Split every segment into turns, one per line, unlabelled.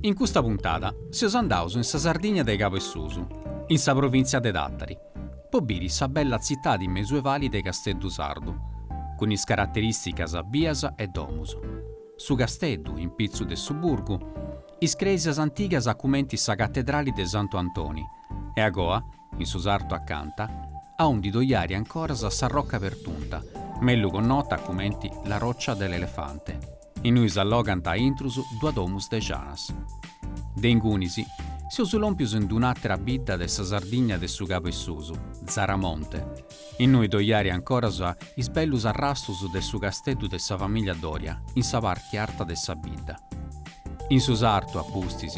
In custa puntada seus andaus in sa Sardigna de cabu 'e susu, in sa provìntzia de Tàtari, po biri sa bella tzitadi mesuevali de Casteddu Sardu, cun is caraterìsticas bias e domus, su casteddu in pitzu de su burgu, is crèsias antigas cumenti sa catedrali de Santu Antoni e agoa, in su sartu acanta, aundi ddoi ari ancoras sa Rocca Pertunta, mellu connota cumenti La Roccia dell'Elefante. Innui s'allogant a intrus dua domus de janas. De ingunis, seus lòmpius in d'un'àtera bidda de sa Sardigna de su Cabu 'e Susu, Zaramonte, innui ddoi ari ancoras is bellus arrastus de su casteddu de sa famìllia Doria in sa parti arta de sa bidda. In su sartu, a pustis,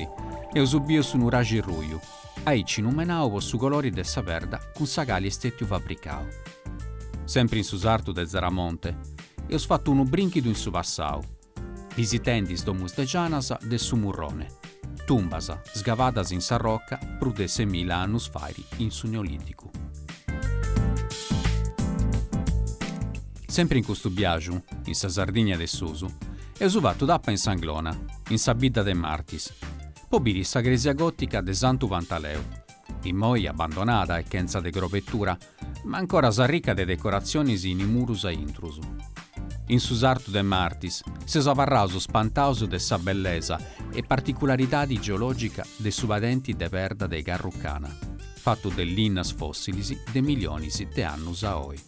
eus biu su nuraxi ruju, aici numenau po su colori de sa perda cun sa cali est stetiu fabricau. Sempri in su sartu de Zaramonte, eus fatu unu brinchidu in su passau, bisitendi is domus de Janas de su Murrone, tumbas sgavadas in sa roca prus de semila annus fairi in su Neoliticu. Sempri in custu biaxu, in sa Sardigna de susu, eus fatu tapa in S'Anglona, in sa bidda de Martis, Po biri sa cresia gòtica de Santu Pantaleu, immoi abbandonada e chentza de crobetura, ma ancoras arrica de decoratzionis in is murus a intrus. In su sartu de Martis seus abarraus spantaus de sa bellesa e particularidadi geològica de su padenti de perda de Carrucana, fatu de linnas fòssilis de milionis de annus a oi.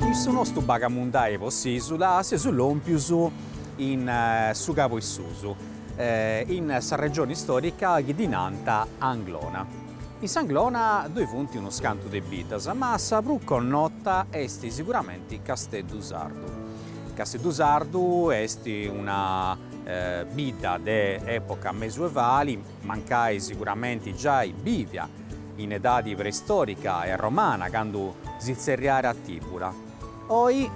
In su nostu bagamundai po s'isula seus lompius in su cabu 'e susu, in sa regioni istorica chi ddi nant Anglona. In s'Anglona ddoi funt unus cantu de biddas, ma sa prus connota est siguramenti Casteddu Sardu. Casteddu Sardu est una bidda de epoca mesuevali, mancai siguramenti giai bivia in edadi preistorica e romana, candu si tzerriarat Tibula. Oi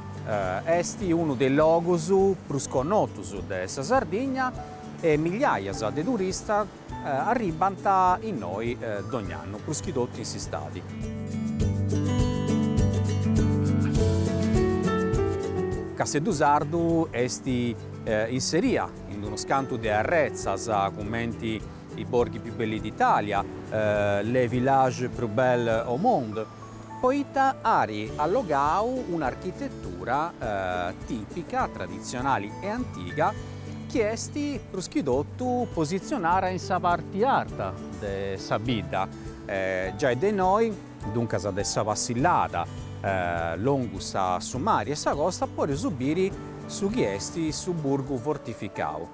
est unu de is logus prus connotus de sa Sardigna e migliaias de turistas Arribbant innoi dogn'annu, prus chi totu in s'istadi. Casteddu Sardu est inseria, in unus cantu de arretzas, cumenti i borghi più belli d'Italia, les villages plus belles au monde, poita ari allogau un'architetura tìpica, traditzionali e antiga chi est prus chi totu positzionada in sa parti arta de sa bidda, giai de innoi, duncas de sa passillada longus a su mari e sa costa, podeus biri su chi est su burgu fortificau.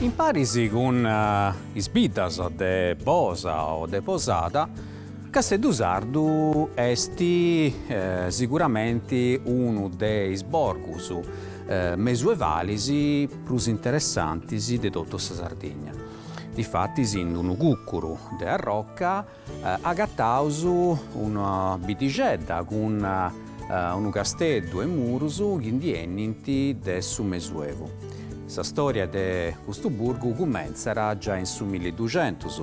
Imparis cun is biddas de Bosa o de Posada, Casteddu Sardu est siguramenti unu de is borgus mesuevalis prus interessantis de totu sa Sardigna. Difatis in unu cùcuru de arroca agataus una biddixedda cun unu casteddu e murus chi ndi 'enint de su Mesuevu. Sa storia de custu burgu cumentzat giai in su milliduxentus,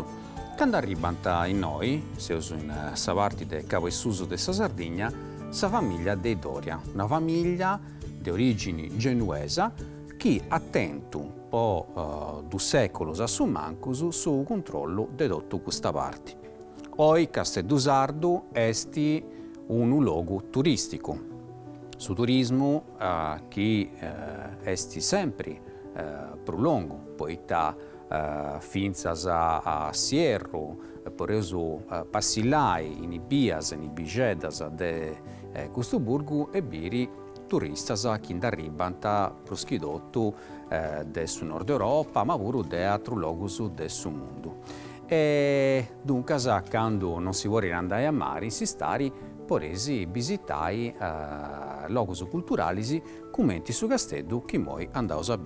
candu arribbant innoi, seus in sa parti de Cabu 'e Susu de sa Sardigna, sa famiglia de is Doria, una famiglia de origini genuesa chi at tentu po dus sèculos a su mancus su cuntrollu de totu custa parti. Oi Casteddu Sardu est unu logu turìsticu. Su turismu chi est sempri prus longu poita fintzas a s'ierru, podeus passillai in is bias, in is biixeddas de custu burgu e biri turistas chi nd'arribbant prus chi totu de su Nord Europa ma puru de atrus logus de su mundu e duncas candu non si podit andai a mari in s'istadi podeis bisitai logus culturalis cumenti su Casteddu chi imoi andaus a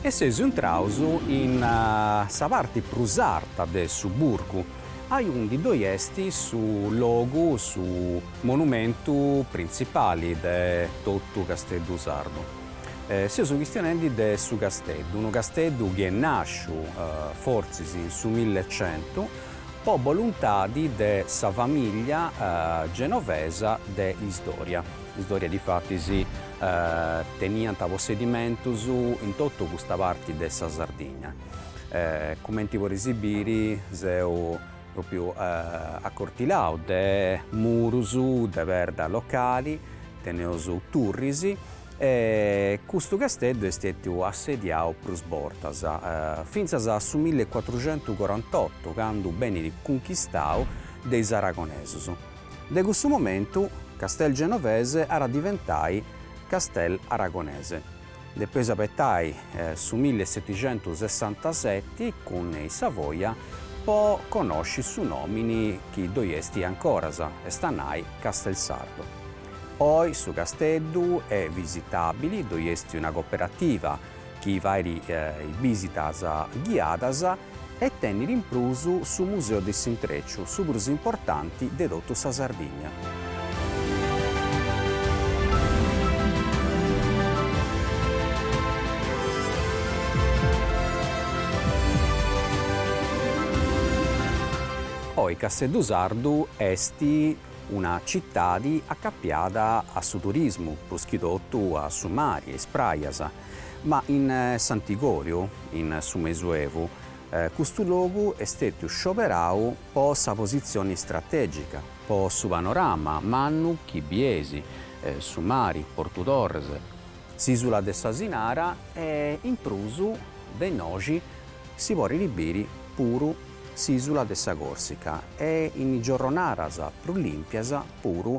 E seus intraus in sa parti prus arta de su burgu, aiundi ddoi est su logu, su monumentu printzipali de totu Casteddu Sardu. Seus chistionendi de su casteddu, unu casteddu chi est nàsciu, fortzis in su millecientu, po boluntadi de sa famìllia genovesa de is Doria. Is Doria difatis teniant possedimentus in totu custa parti de sa Sardigna, cumenti podeis biri seus propriu accortilau de murus de perda locali, teneus turris e custu casteddu est stetiu assediau prus bortas, fintzas a su mill'e cuatruxentu corant'otu candu benit cunchistau de is aragonesus. De cussu momentu Castel Genovese at a diventai Castel Aragonese. Depeus abetai su milli e setixentusessantaseti cun i Savoia po conosci su nomini chi ddoi esti ancoras, est a nai Castelsardo. Oi su casteddu est visitabili, ddoi esti una coperativa chi faidi bisitas ghiadas, e tenit in prus su Museu de s'Intreciu, su prus importanti de totu sa Sardigna. Oi Casteddu Sardu est una citadi acapiada a su turismu, prus chi totu a su mari e is prajas. Ma in s'antigòriu, in su
Mesuevu, custu logu est stètiu scioberau po sa positzioni stratègica, po su panorama mannu chi bies, su mari, Portu Torres, s'ìsula de s'Asinara e, in prus, de innoxi si podit biri puru s'ìsula de sa Còrsica e, in giorronadas prus lìmpias, puru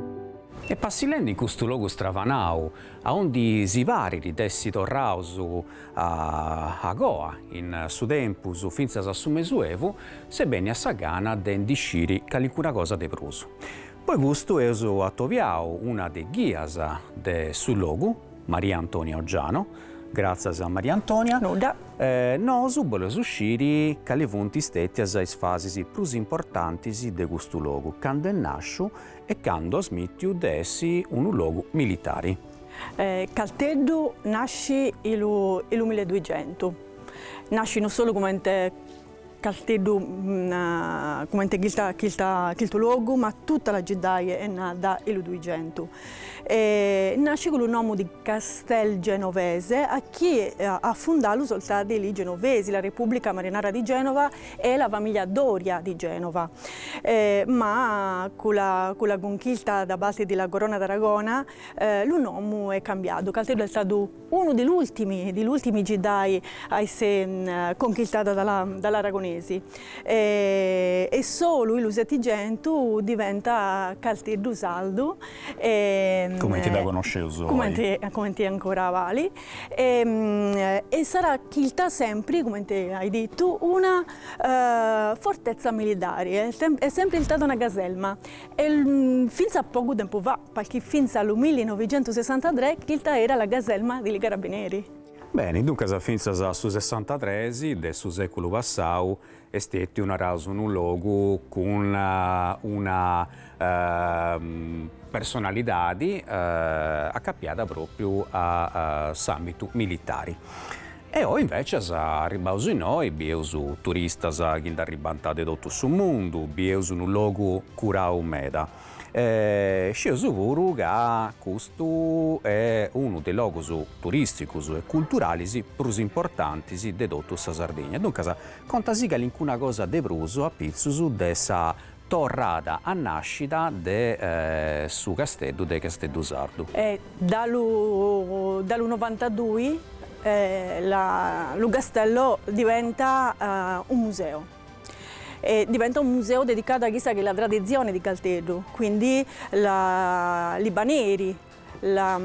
E passillende in custu logu stravanau, aundi si parit de essi torraus agoa in su tempus fintzas a su mesuevu, s'est bènnia sa gana de ndi sciri calincuna cosa de prus. Po custu eus atobiau una de is ghias de su logu, Maria Antonia Oggiano, gràtzias Maria Antonia,
Nudda. Nosu
boleus sciri cali funt stètias is fasis prus importantis de custu logu cand'est nàsciu, E candu at smìtiu de essi unu logu militari.
Calteddu nasci i' lu i' lu milleduigentu. Nasci no solu cumenti Calteddu cumenti chilta chilta chiltu logu ma tutta la giddai è nadda i' lu duigentu. E nasci cu' lu nomu di Castel Genovese achì a fundallu so' ltadi li Genovesi, la Repubblica Marinara di Genova e la famiglia Doria di Genova, ma cu' la cunchista da parti di la Corona d'Aragona lu nomu è cambiadu, Calteddu è stadu unu di l'ultimi giddai a esse conchistadu da l'aragonesi e solu i' lu Settigentu diventa Calteddu Saldu,
cumenti dda connosceus oi, cumenti
ancora abali, E e sarà chilta sempri, cumenti hai dittu, una fortezza milidari, è è sempri istada una caselma e finza a pogu tempu fa, palchì finza a lu millinovicentusessantatrè chilta era la caselma de li carabineri. Beni, duncas
fintzas a su sessantatres de su seculu passau Est stètiu, naraus, unu logu cun una personalidadi acapiada pròpriu a s'àmbitu militari. E oi invècias, arribbaus innoi, bieus turistas chi nd'arribbant de totu su mundu, bieus unu logu curau meda. e scieus puru ca custu est unu de is logus turisticus e culturalis prus importantis de totu sa Sardigna, duncas conta·sì calincuna cosa de prus apitzus de sa torrada a nascida de su Casteddu de Casteddu Sardu. Da
lu da lu novantadui lu castello diventa un museo. e diventa un museo dedicadu a chissa chi è la tradizione di Calteddu, quindi li paneri, a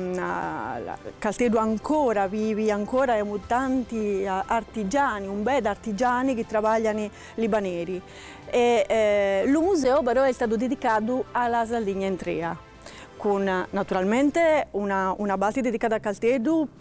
Calteddu ancora vivi, ancora emu tanti artigiani, un beda artigiani chi trabaglian li paneri e lu museo però è stadu dedicadu a la Saldigna intrea cun naturalmente una una palti dedicada a Calteddu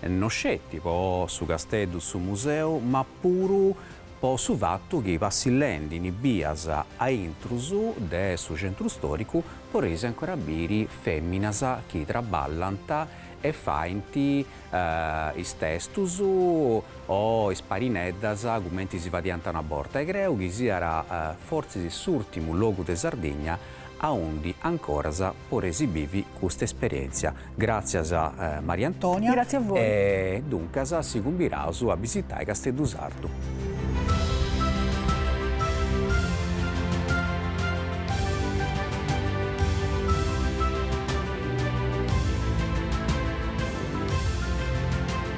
no sceti po su Casteddu su Museu ma puru po su fatu chi passillendi in bias a intrus de su centru storicu poreis ancora biri feminas chi traballant e faint is testus o is parineddas cumenti si faiant una borta e creu chi siat fortzis s'urtimu logu de Sardigna aundi ancoras poreis biviri custa esperientzia Gràtzias Maria Antonia. Grazie a voi.
E
duncas si cumbiraus a bisitai Casteddu Sardu.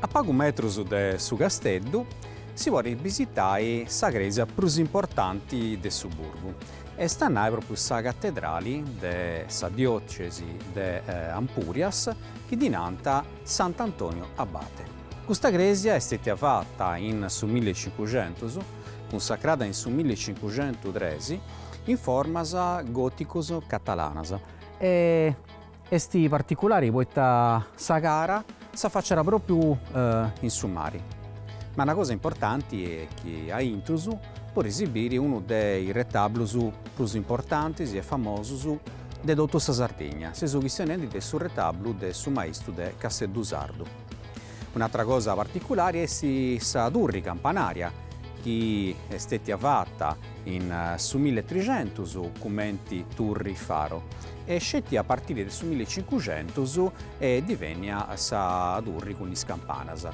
A pagu metrus de su casteddu si podit bisitai sa crèsia prus importanti de su burgu, est a nai pròpriu sa catedrali de sa diòcesi de Ampurias chi ddi nant Sant'Antonio Abate. Custa crèsia est stètia fata in su milli e cincuxentus, cunsacrada in su milli e cincuxentu tres, in formas gòticus catalanas e est particulari poita sa cara s'afaciat pròpriu in su mari. Ma una cosa importanti est chi a intrus poreis biri unu de is retablus prus importantis e famosus de totu sa Sardigna, seus chistionendi de su retablu de su maestru de Casteddu Sardu. Un'atra cosa particulari est sa turri campanaria chi est stetia fata in su milli e tricentus cumenti turri faro e sceti a partiri de su milli e cincucentus est divènnia sa turri cun is campanas.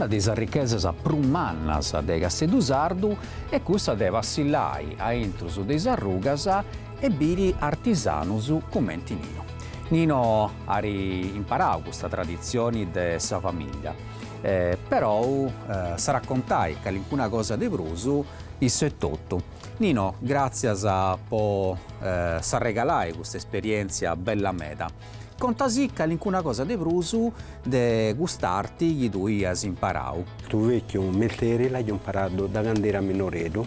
Una de sas richesas prus mannas de Casteddu Sardu est cussa de passillai a intrus de is arrugas e biri artisanus cumenti Nino. Nino at imparau custa traditzioni de sa famìllia, perou s'at a contai calincuna cosa de prus issu etotu. Nino, gràtzias po s'arregalai custa esperièntzia bella meda. Contasì calincuna cosa de prus de cust'arti chi tui as imparau. Stu vèchiu
mesteri l'aiu imparadu da cand'era minoreddu,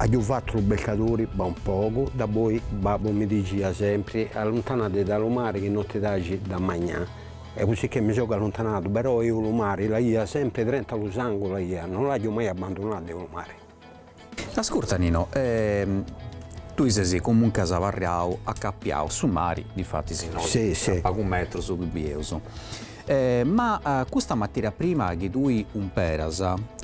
Agiu fatu lu piscadori pa un pogu, da boi babbu mi digia sempri, alluntànadi da lu mari chi no ti daci da magnà. E cussì chi mi sogu alluntanadu, però eo lu mari l'aia sempri drentu a lu sangu l'aia, no l'agiu mai abbandunadu eu lu mari.
Ascurta Nino, tui ses comuncas abarriau, acapiau a su mari, difatis innoi, a pagu metrus ddu bieus. Ma custa matèria prima chi tui umperas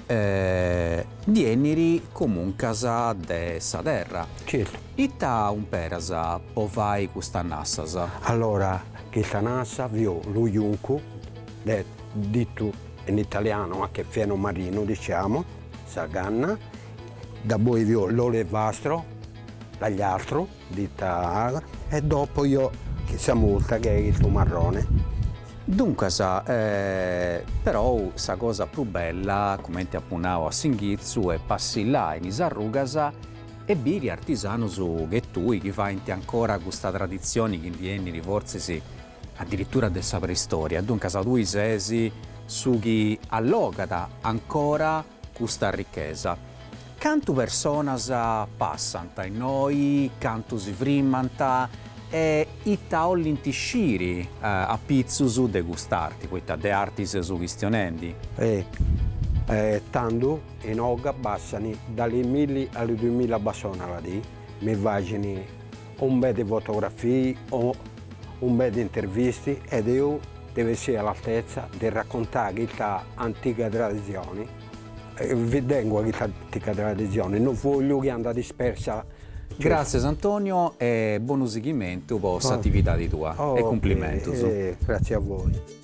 ndi 'enit comuncas de sa terra. Certu. Ita umperas po fai custas nassas?
Allora chista nassa fio lu juncu è dittu in italiano anche fieno marino diciamo sa canna da boi fio l'olevastro, l'agliastru. Dita Al. E dopo io chissa multa chi è su
marrone. Duncas perou sa cosa prus bella, cumenti apu nau a s'inghitzu, est passillai in is arrugas e biri artisanus che tui chi faint ancora custa traditzioni chi ndi 'enit fortzis adiritura de sa preistoria. Duncas tui ses su chi allogat ancora. custa richesa. Cantu personas passant innoi, cantu si frimant e ita 'ollint sciri a pitzus de cust'arti, poita de arti seus chistionendi.
Tandu inoga passani da li milli a li dumila passoni a la dì, mi fàcini Un bè di fotografii o un bè di intervisti ed eu devo essiri a l'altezza de raccontà chista antiga tradizioni, vi tengu a chista antiga tradizioni, no vogliu chi anda dispersa.
Gràtzias Antonio e bonu sighimentu po s'atividadi tua e cumplimentus. Grazie a
voi.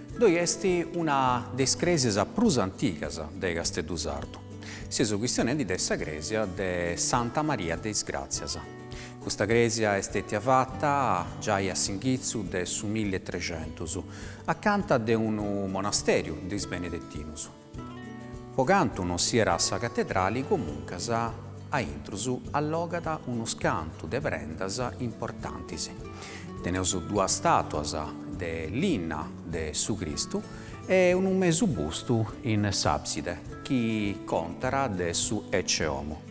Ddoi est una de is crèsias prus antigas de Casteddu Sardu. Seus chistionendi de sa crèsia de Santa Maria de is Gràtzias. Custa crèsia est stètia fata giai a s'inghitzu de su milli e trexentus, acanta de unu monastèriu de is Benedetinus. Po cantu non siat sa catedrali comuncas a intrus allogat unus cantu de prendas importantis. Teneus duas stàtuas de linna de su Cristu e unu mesu bustu in s'àbside chi contat de su Ecce Homo.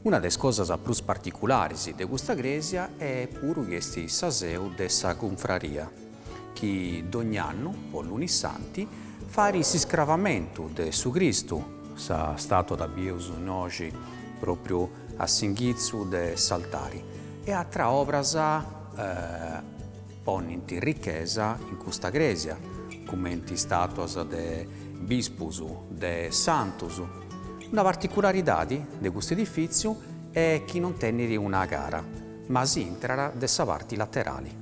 Una de is cosas prus particularis de custa crèsia est puru chi est sa seu de sa cunfraria. chi dogn'annu, po Lunissanti, fait s'iscravamentu de su Cristu, sa statua dda bieus innoi pròpriu a s'inghitzu de s'altari, e atras obras ponint richesa in custa crèsia, cumenti statuas de bispus, de santus. Una particularidadi de custu edifìtziu est chi non tenit una cara, ma si intrat de sa parti laterali.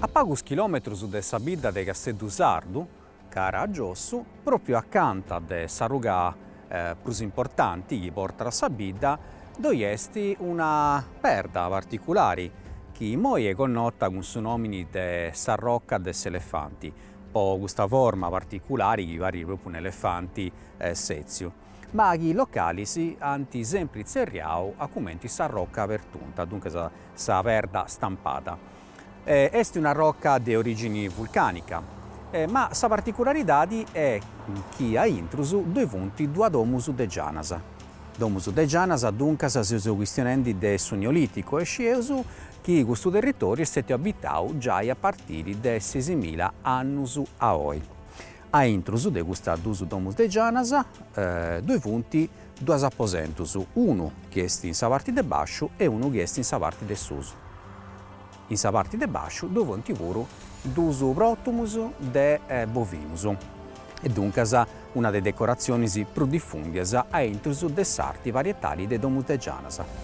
A pagus chilòmetrus de sa bidda de Casteddu Sardu, cara a giossu, pròpriu acanta de s'arruga prus importanti chi portat a sa bidda, ddoi est una perda particulari chi immoi est connota cun su nòmini de s'arroca de s'elefanti, po custa forma particulari chi parit pròpriu un'elefanti sètziu, ma chi is localis ant sempri tzerriau cumenti s'arroca pertunta, duncas sa perda stampada. Est una roca de orìgini vulcànica, ma sa particularidadi est chi a intrus ddoi funt duas domus de gianas. Domus de gianas, duncas, seus chistionendi de su Neolìticu e scieus chi custu territòriu est stètiu abitau giai a partiri de sesìmila annus a oi. A intrus de custas duas domus de Gianas ddoi funt duus aposentus, unu chi est in sa parti de basciu e unu chi est in sa parti de susu. In sa parti de basciu ddoi funt puru duus pròtomus de bovinus e duncas una de is decoratzionis prus difùndias a intrus de s'arti parietali de domus de Gianas.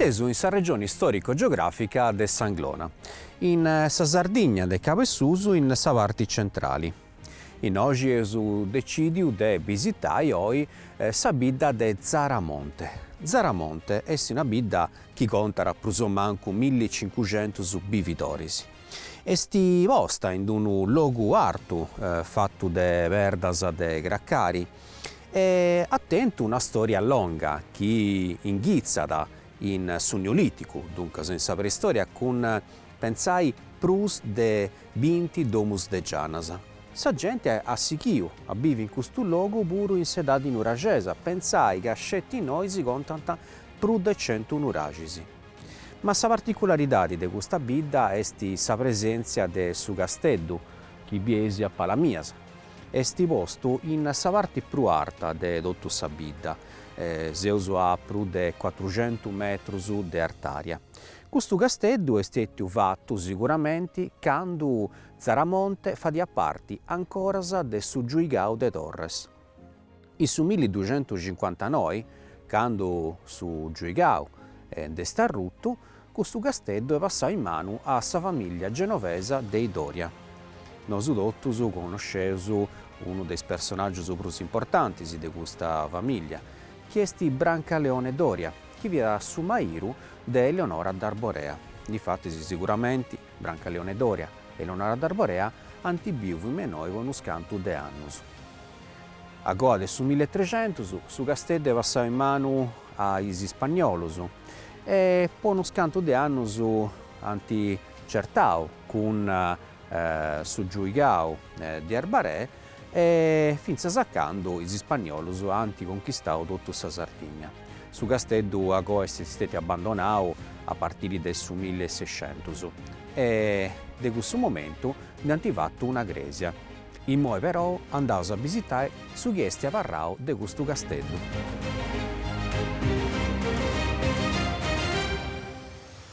Seus in sa regione istorico-geografica de s'Anglona, in sa Sardigna de Cabesusu in sa parti centrali. Innoxi eus decìdiu de bisitai oi sa bidda de Zaramonte. Zaramonte est una bidda chi contat prus o mancu milli cincuxentus bividoris. Est posta in unu logu artu, fatu de perdas de cracari e at tentu una storia longa chi inghitzat in su Neolìticu, duncas in sa Preistoria, cun, pentzai, prus de Binti domus de gianas. Sa gente at sighiu a bivi in custu logu puru in s'edadi nuraxesa, pentzai ca sceti innoi si contant prus de centu nuraxis. Ma sa particularidadi de custa bidda est sa presèntzia de su casteddu, chi bieis a pala mias, est postu in sa parti prus arta de totu sa bidda, seus a prus de cuatruxentu metrus de artària. Custu casteddu est stetiu fatu siguramenti candu Zaramonte fadiat parti ancoras de su Giuigau de Torres. In su milli ducentuscincuantanoi, candu su Giuigau nd'est arrutu, custu casteddu est passau in manu a sa famìllia genovesa de i Doria. Nosu totus conosceus unu de is personàgius prus importantis de custa famìllia, chi est Brancaleone Doria. chi fiat su mairu de Eleonora d'Arborea. Difatis, siguramenti, Brancaleone Doria e Eleonora d'Arborea ant bìviu innoi po unus cantu de annus. A goa de su milli e trecentus, su casteddu est passau in manu a is ispanniolus e po unus cantu de annus ant certau cun su giuigau de Arbaree e fintzas a candu is Ispagnolos ant conchistadu totu sa Sardìnnia. Su casteddu agoa est stètiu abandonadu a partiri de su milli e sescentus e de cussu momentu nd'ant fatu una crèsia. Imoi perou andaus a bisitai su chi est abarrau de custu casteddu.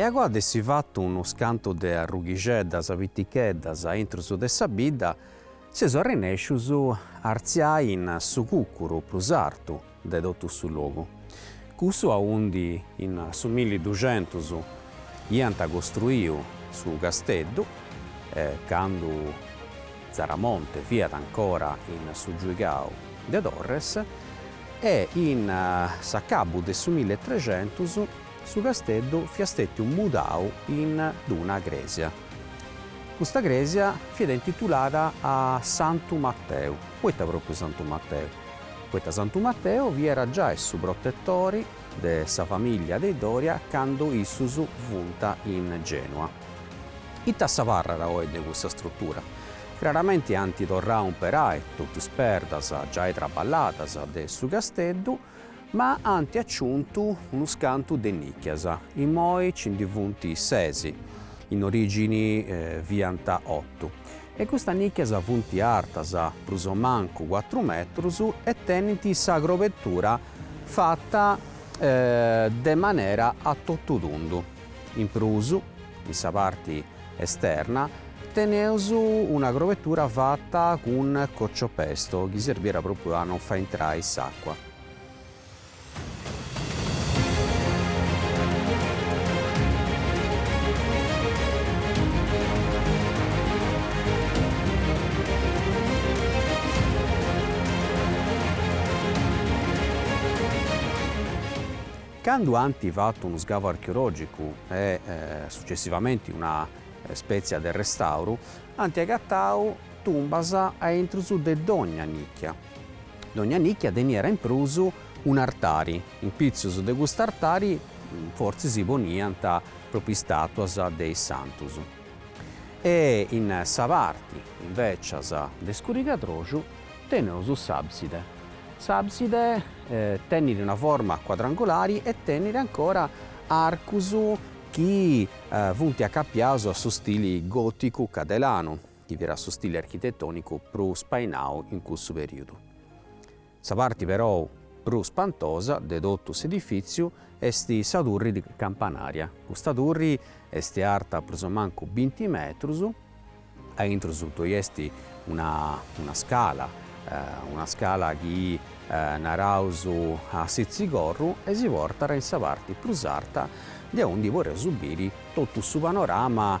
E agoa de essi fatu unu scantu de arrughixeddas piticheddas a intrus de sa bidda, seus arrenèscius a artziai in su cucuru prus artu, de totu su logu, cussu aundi in su milli duxentus iant costruiu su casteddu, candu Tzaramonte fiat ancora in su giuigau de Torres, e in s'acabu de su milli e trexentus su casteddu fiat stetiu mudau in d'una crèsia. Custa crèsia fiat intitulada a Santu Mateu, poita pròpriu Santu Mateu? poita Santu Mateu fiat giai su protetori de sa famìllia de Doria candu issus fiant in Gènua. Ita s'abarrat oi de cussa strutura? Craramenti ant torrau a umperai totu is perdas giai traballadas de su casteddu, ma ant aciuntu unus cantu de nìchias, imoi nci ndi funt sesi, in orìgini fiant otu, E custas nìcchias funt artas prus o mancu cuatru metrus e tenint sa crobetura fata de manera a totutundu. In prus, in sa parti esterna, teneus una crobetura fata cun cocciopesto chi serbiat pròpriu a non fai intrai s'àcua. Candu ant fatu unu scavu archeològicu e sucessivamenti una spètzia de restauru, ant agatau tumbas a intrus de dogna nìchia. Dogna nìcchia teniat in prus un'artari, in pitzus de cust'artari fortzis si poniant pròpriu istàtuas de is santus. E in sa parti, invècias, de scurigadroxu teneus s'àbside. S'àbside tenit una forma cuadrangulari e tenit ancora arcus chi funt acapiaus a su stili gòticu cadelanu. chi fiat su stile architetònicu prus spainau in cussu perìodu. Sa parti perou prus spantosa de totu s'edifìtziu est sa turri campanària. Custa turri est arta prus o mancu binti metrus, a intrus ddoi est una una scala, una scala chi naraus a sitzigorru e si portat in sa parti prus arta de undi poreus biri totu su panorama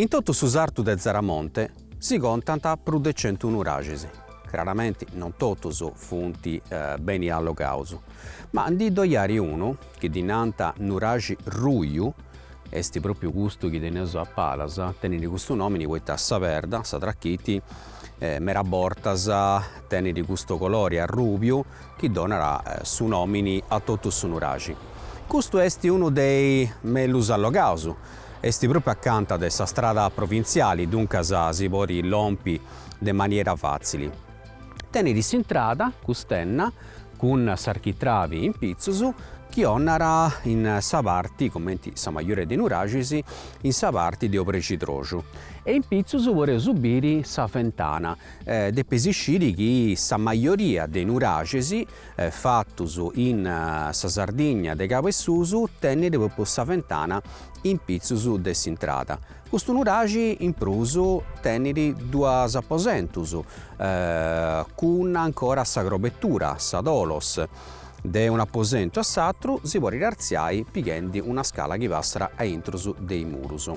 In totu su sartu de Zaramonte si contant prus de centu nuraxis. Craramenti non totus funt beni allogaus, ma ndi ddoi at unu Chi ddi nant nuraxi ruju, est pròpiu custu chi teneus a palas, tenit custu nòmini poita sa perda, sa trachiti, meras bortas tenit custu colori arrùbiu chi donat su nòmini a totu su nuraxi. Custu est unu de is mellus allogaus, est pròpiu acanta de sa strada provintziali, duncas si podit lompi de maniera fàtzili. Tenit s'intrada cust'enna cun s'architravi in pitzus chi donat in sa parti, comenti sa majoria de nuraxis, in sa parti de obrexidroxu e in pitzus podeus biri sa fentana. Depeis sciri chi sa majoria de nuraxis fatus in sa Sardigna de Cabu 'e Susu tenit propriu sa fentana in pitzus de s'intrada. Custu nuraxi in prus tenit duas aposentus, cun ancora sa crobetura, sa tholos. De un'aposentu a s'atru si podit artziai pighendi una scala chi passat a intrus de is murus.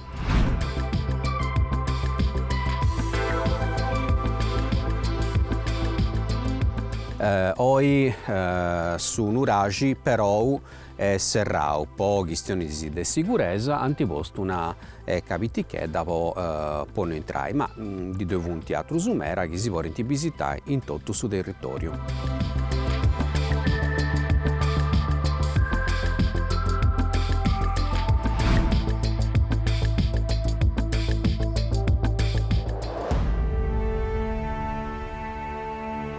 Oi su nuraxi perou est serrau po chistionis de siguresa ant postu un'eca pitichedda po po no intrai, ma ndi ddoi funt atrus mera chi si podint bisitai in totu su territòriu.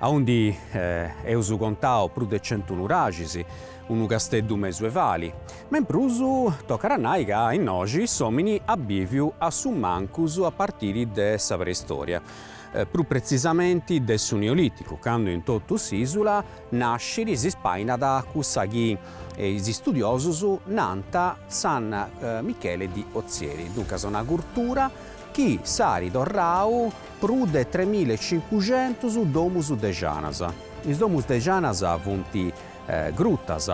aundi eus contau prus de centu nuraxis, unu casteddu mesuevali, ma in prus tocat a nai ca innoxi s'òmini at bìviu a su mancus a partiri de sa preistòria, prus pretzisamenti de su Neolìticu, candu in totu s'ìsula nascit e si spainat cussa chi is istudiosus nant San Michele di Ozieri, duncas una curtura chi s'at torrau Prus de tremilla e cincuxentus domus de janas. Is domus de janas funt grutas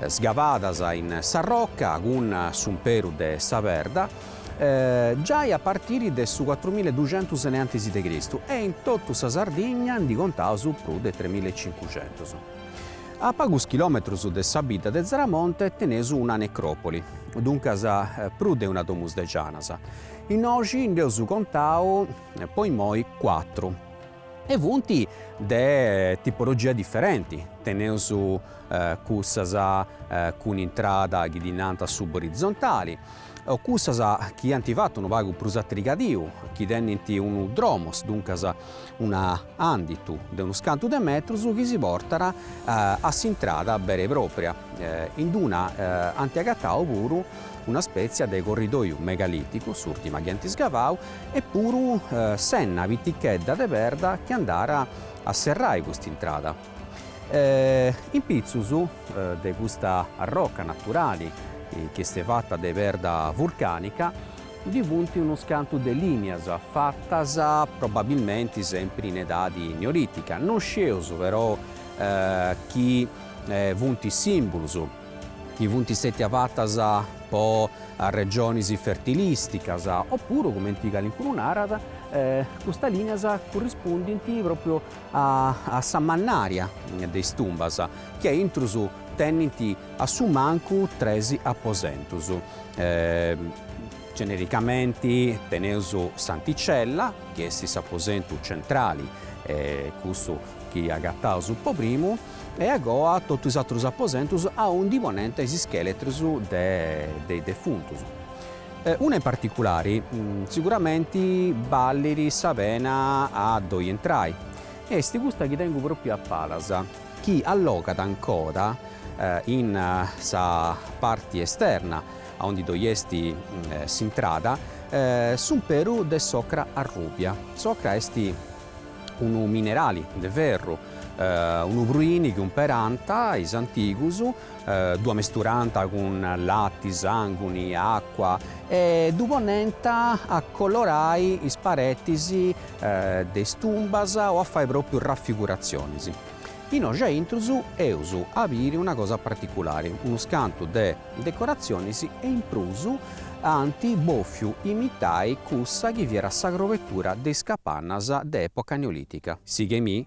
sgavadas in s'arroca cun s'umperu de sa perda, giai a partiri de su cuatrumilla e duxentus innantis de Cristu e in totu sa Sardigna ndi contaus prus de tremilla e cincuxentus. A pagus chilòmetrus de sa bidda de Zaramonte teneus una necròpoli, duncas prus de una domus de janas. Innoxi nd'eus contau po immoi cuatru e funt de tipologia diferenti, teneus cussas cun intrada chi ddi nant suborizontali, o cussas chi ant fatu unu pagu prus a trigadiu, chi tenint unu dromos, duncas una anditu de unus cantu de metrus chi si portat a s'intrada bera e pròpria, in d-una ant agatau puru una spètzia de corridòiu megalìticu, s'ùrtima chi ant sgavau, e puru s'enna pitichedda de perda chi andàt a serrai cust'intrada. In pitzus de custa arroca naturali chi est fata de perda vulcànica Ndi funt unus cantu de lìnias, fatas probabilmenti sempri in edadi neolìtica, no scieus però chi funt sìmbulus, chi funt sètia fatas po arrexonis fertilìsticas, opuru, cumenti calincunu narat, custas lìnias currispundint pròpriu a sa mannària de is tumbas, chi aintrus tenint A su mancu tres aposentus. Genericamenti teneus s'anticella, chi est s'aposentu centrali e cussu chi agataus po primu, e a goa totu is atrus aposentus aundi poniant is ischeletrus de is defuntus. Una in particulari siguramenti ballit sa pena a ddoi intrai, est custa chi tengu propriu a palas, chi allogat ancoda in sa parti esterna, aundi doi est s'intrada, s'umperu de s'ocra arrùbia. S'ocra est unu minerali de ferru, unu pruini chi umperànt is antigus ddu amesturànt cun lati, sànguni, àcua e ddu poniant a colorai is paretis de is tumbas o a fai pròpriu rafiguratzionis. Innoxi aintrus eus a biri una cosa particulari, unus cantu de decoratzionis e in prus ant bòfiu imitai cussa chi fiat sa crobetura de is capannas de època neolìtica. Sighi-mì.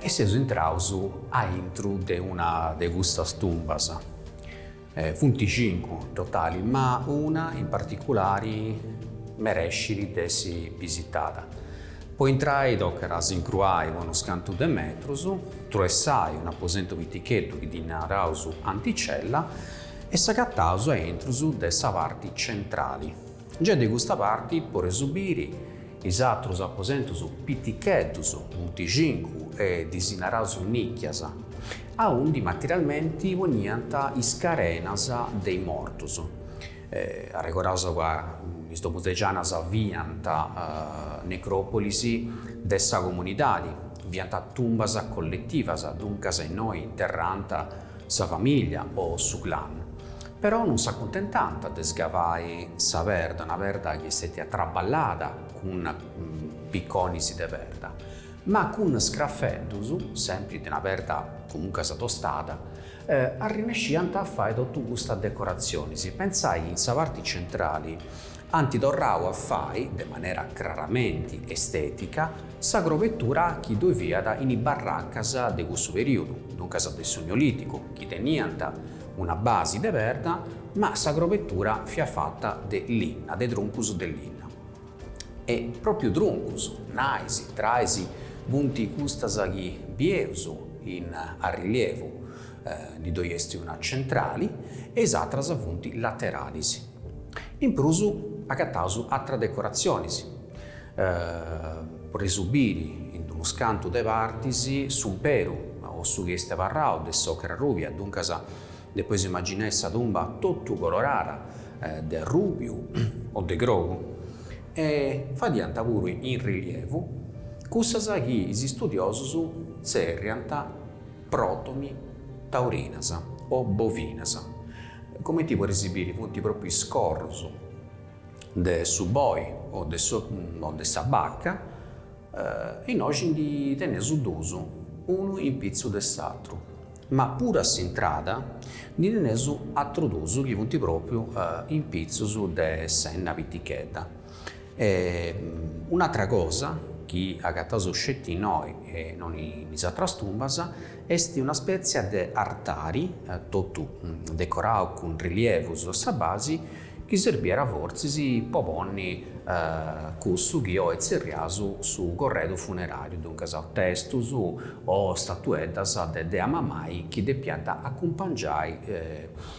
E seus intraus aintru de una de custas tumbas. Funt cincu in totali, ma una in particulari merescit de essi bisitada. Po intrai tocat a s'incruai po unus cantu de metrus, truessai un'aposentu piticheddu chi ddi naraus anticella E s'agataus a intru de sa parti centrali. Gei de custa parti poreus biri is atrus aposentus piticheddus, funt cincu e ddis naraus nicchias, aundi materialmenti poniant is carenas de is mortus. Arregoraus ca is domus de Janas fiant necròpolis de sa comunidadi, fiant tumbas colletivas, duncas innoi interrànt sa famìllia o su clan, però non s'acuntentant de scavai sa perda, una perda chi est stètia traballada cun piconis de perda, ma cun scrafeddus, sempri de una perda comuncas prus tostada, arrinnesciant a fai totu custas decoratzionis, pentzai in sa parti centrali, ant torrau a fai, de manera craramenti estètica, sa crobetura chi ddoi fiat in is barracas de cussu perìodu, duncas de su Neolìticu, chi teniant una basi de perda, ma sa crobetura fiat fata de linna, de truncus de linna. E pròpiu truncus, nais, trais, funt custas chi bieus in arrilievu, Ndi ddoi est una centrali e is atras funt lateralis. In prus agataus atras decoratzionis, poreis biri in unus cantu de partis, s'umperu o su chi est abarrau de s'ocra rubia, duncas depeis imaginai sa tumba totu colorada de arrubiu o de grogu. E fadiant puru in rilievu cussas chi is studiosus tzerriant. Protomi, taurinas o bovinas, comenti poreis biri funt propriu is corrus de su boi o de o de sa bacca, innoxi ndi teneus duus, unu in pitzu de s'atru, ma puru a s'intrada ndi teneus atrus duus chi funt propriu in pitzus de s'enna pitichedda. E un'atra cosa chi agataus sceti innoi e non in is atras tumbas est una spètzia de artari, totu decorau cun rilievus a sa basi, chi serbiat fortzis po ponni cussu chi oi tzerriaus su corredu funeràriu, duncas testus o statueddas de dea mamai chi depiant acumpangiai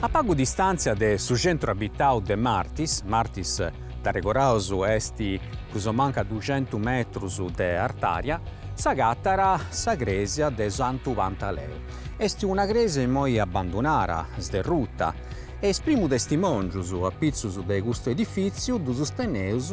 A pagu distàntzia de su centru abitau de Martis, Martis dd'arregoraus est prus o mancu a duxentu metrus de artària, s'agatat sa crèsia de Santu Pantaleu. Est una crèsia imoi abandunara, sderruta, e is primus testimòngius apitzus de custu edifìtziu ddus teneus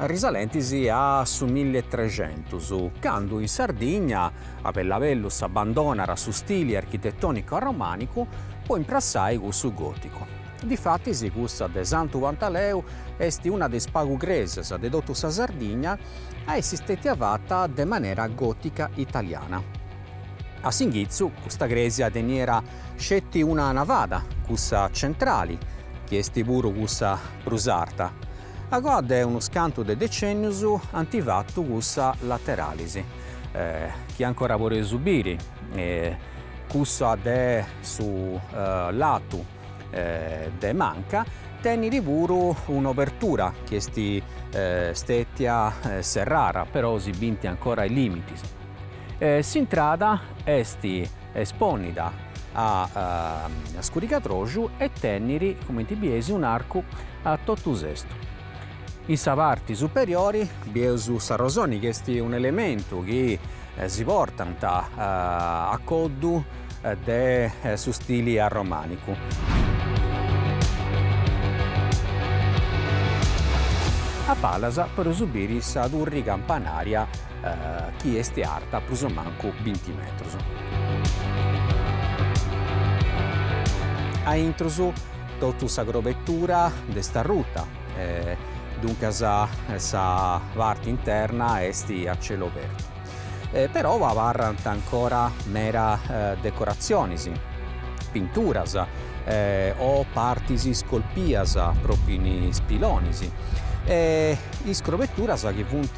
risalentis a su milli e trexentus, candu in Sardigna a bellu a bellu s'abbandonara su stili architetònicu arromànicu po imprassai cussu gòticu. Difatis cussa de Santu Pantaleu est una de is pagu crèsias de totu sa Sardigna a essi stètia fata de manera gòtica italiana. A s'inghitzu custa crèsia teniera sceti una navada, cussa centrali, chi est puru cussa prus arta. Agoa de unus cantu de decennius ant fatu cussas lateralis, chi ancora podeus biri, cussa de su latu de manca, tenit puru un'obertura chi est stètia serrada, però si binti ancora is limitis. S'intrada est espònnida a scurigadroxu e tenit, cumenti bieis, un'arcu a totu sestu. In sa parti superiori bieus s'arrosoni chi est un'elementu chi si portant a coddu de su stili arromànicu. A palas podeus biri sa turri campanària chi est arta prus o mancu binti metrus. A intrus totu sa crobetura nd'est arruta e duncas sa parte interna est a celu apertu. Però abarrant ancora meda decoratzionis, pinturas o partis iscolpias propriu in is pilonis e is crobeturas chi funt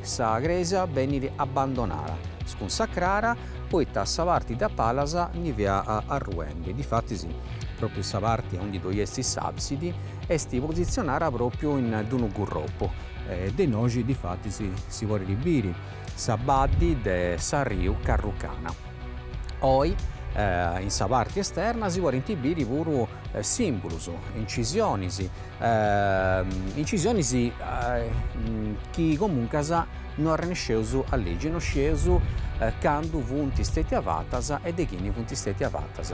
Sa crèsia benit abbandonada, scunsacrada, poita sa parti de a palas ndi fiat arruendi. Difatis, pròpiu sa parti aundi ddoi est s'àbsidi est positzionada pròpiu in d-unu gurropu. De innoxi, difatis, si podit biri sa baddi de s'arriu Carrucana. Oi, in sa parti esterna si podint biri puru sìmbulos, incisiones, incisiones chi comuncas no arrenesceus a legi, no scieus cando funt stètias fatas e de chini funt stètias fatas.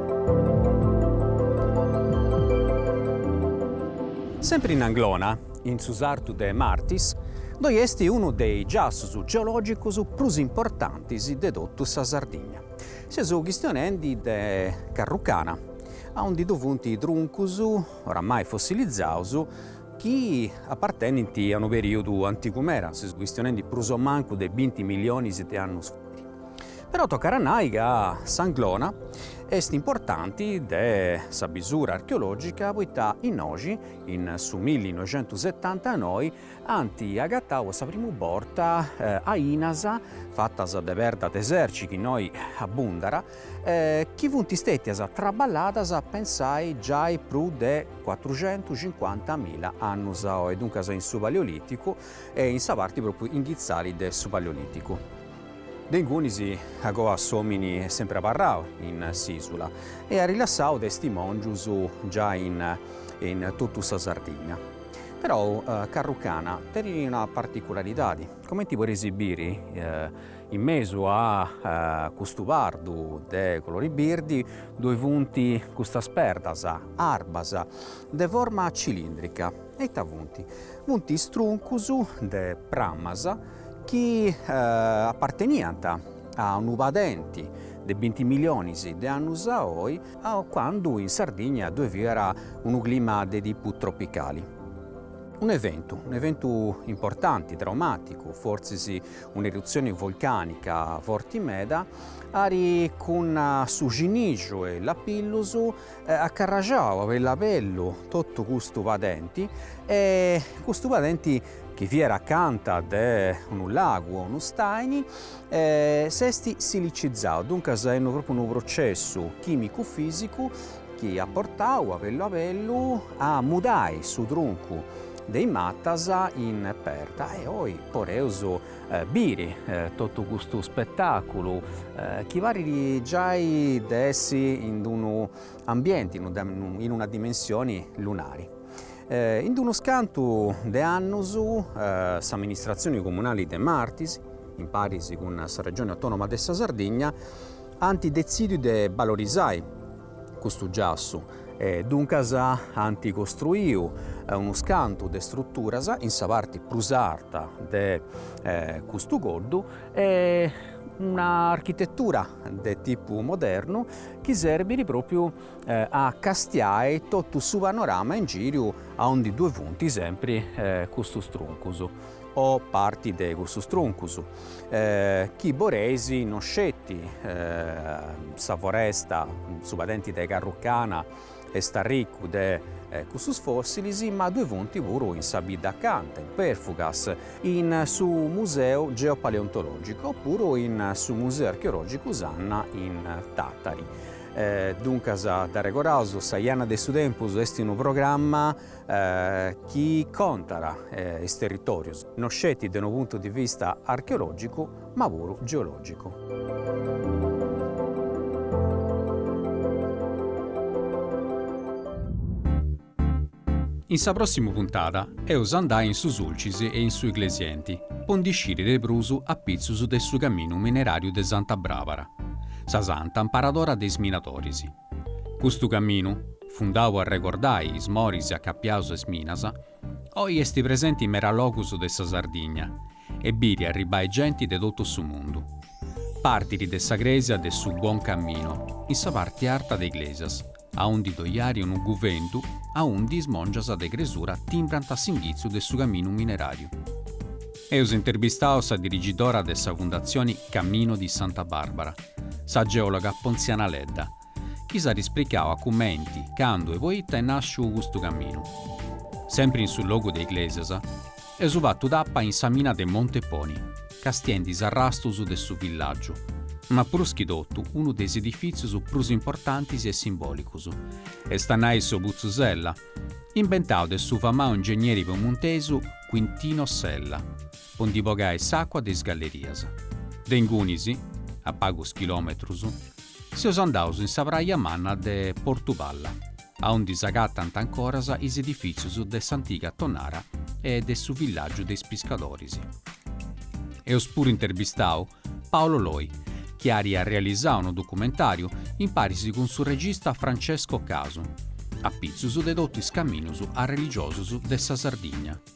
Sempri in Anglona, in su sartu de Martis, ddoi est unu de is giassus geològicus prus importantis de totu sa Sardigna. Seus chistionendi de Carrucana, aundi ddu funt truncus, oramai fossilizaus, chi apartenint a unu perìodu antigu meda, seus chistionendi prus o mancu de binti millionis de annus fait. Però tocat a nai ca s'Anglona est importanti de sa bisura archeològica poita innoxi, in su milli noixentus setanta e noi, ant agatau po sa primu borta ainas fatas de perda de serci chi innoi abbundat, chi funt stètias traballadas pensai giai prus de cuatruxentucincuantamilla annus a oi, duncas in su Paleolìticu e in sa parti pròpriu inghitzali de su Paleolìticu. De ingunis agoa s'omini est sempre abarrau in s'isula e at rilassau testimongius giai in totu sa Sardigna. Però Carrucana tenit una particularidadi, comenti podeis biri in mesu a custu pardu de colori birdi ddoi funt custas perdas arbas, de forma cilindrica e ita funt? Funt is truncus de pramas, chi aparteniant a unu padenti de binti milionis de annus a oi, candu in Sardigna ddoi fiat unu clima de tipu tropicali. Un'eventu, un'eventu importanti, traumàticu, fortzis un'erutzioni volcànica forti meda, at cun su cinixu e lapillus acarraxau a bellu a bellu totu custu padenti e custu padenti chi fiat acanta de unu lagu o unu stàini s'est silicizau, duncas est propriu unu processu chimicu-fisicu chi at portau a bellu a bellu a mudai su truncu de is matas in perda e oi poreus biri totu custu spetaculu chi parit giai de essi in unu ambienti in una dimensioni lunari. In unus cantu de annus s'amministratzioni comunali de Martis, in paris cun sa Regioni Autonoma de sa Sardigna, ant detzidiu de balorisai custu giassu e duncas ant costruiu unus cantu de struturas in sa parti prus arta de custu coddu e una architetura de tipu modernu chi serbit propriu a castiai totu su panorama in giru aundi ddue funti sempri custus truncus o parti de cussus truncus chi boleis no sceti sa foresta, su padenti de Carrucana est arriccu de cussus fossilis ma ddue funti puru in sa bidda accanta, in Perfugas, in su museu geopaleontologicu oppuru in su museu archeologicu Sanna in Tattari. E duncas d'arregordaus, Sa jana de su tempus est unu programma chi contat is territòrius no sceti de unu puntu de vista archeològicu ma puru geològicu.
In sa prossima puntada eus a andai in su Sulcis e in su Iglesienti po ndi sciri de prus apitzus de su caminu mineràriu de Santa Bràbara, sa santa amparadora de is minadoris. Custu caminu, fundau po arregordai is moris acapiaus a is minas, oi esti presenti in meda logus de sa Sardigna e biri arribai genti de totu su mundu. Partiri de sa cresia de su Buon Cammino, in sa parti arta de Iglesias, aundi doiari unu guventu, aundi is mòngias de cresura timbrant a s'inghitzu de su caminu mineràriu. Eus interbistau sa dirigidora de sa Fundatzioni Cammino di Santa Barbara, sa geòloga Ponziana Ledda, chi s'at ispricau a cumenti, candu e poita est nàsciu custu caminu. Sempri in su logu de Iglesias, Eus fatu tappa in sa mina de Monteponi, castiendi is arrastus de su villàgiu, ma prus chi totu unu de is edifìtzius prus importantis e simbòlicus, est a nai su Putzu Sella, imbentau de su famau ingegneri piemuntesu Quintino Sella, po ndi bogai s'àcua de is gallerias. De ingunis, a pagus chilòmetrus, seus andaus in sa praja manna de Portu Palla. aundi s'agatant ancoras is edifìtzius de s'antiga tonnara e de su villàgiu de is piscadoris. Eus puru interbistau Paolo Loi, chi iat realisau unu documentàriu imparis cun su regista Francesco Casu, apitzus de totu is caminus arreligiosus de sa Sardigna.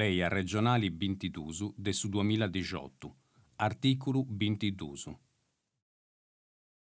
Lei arregionali bintidus de su duamilla dixiotu, artìculu bintidusu.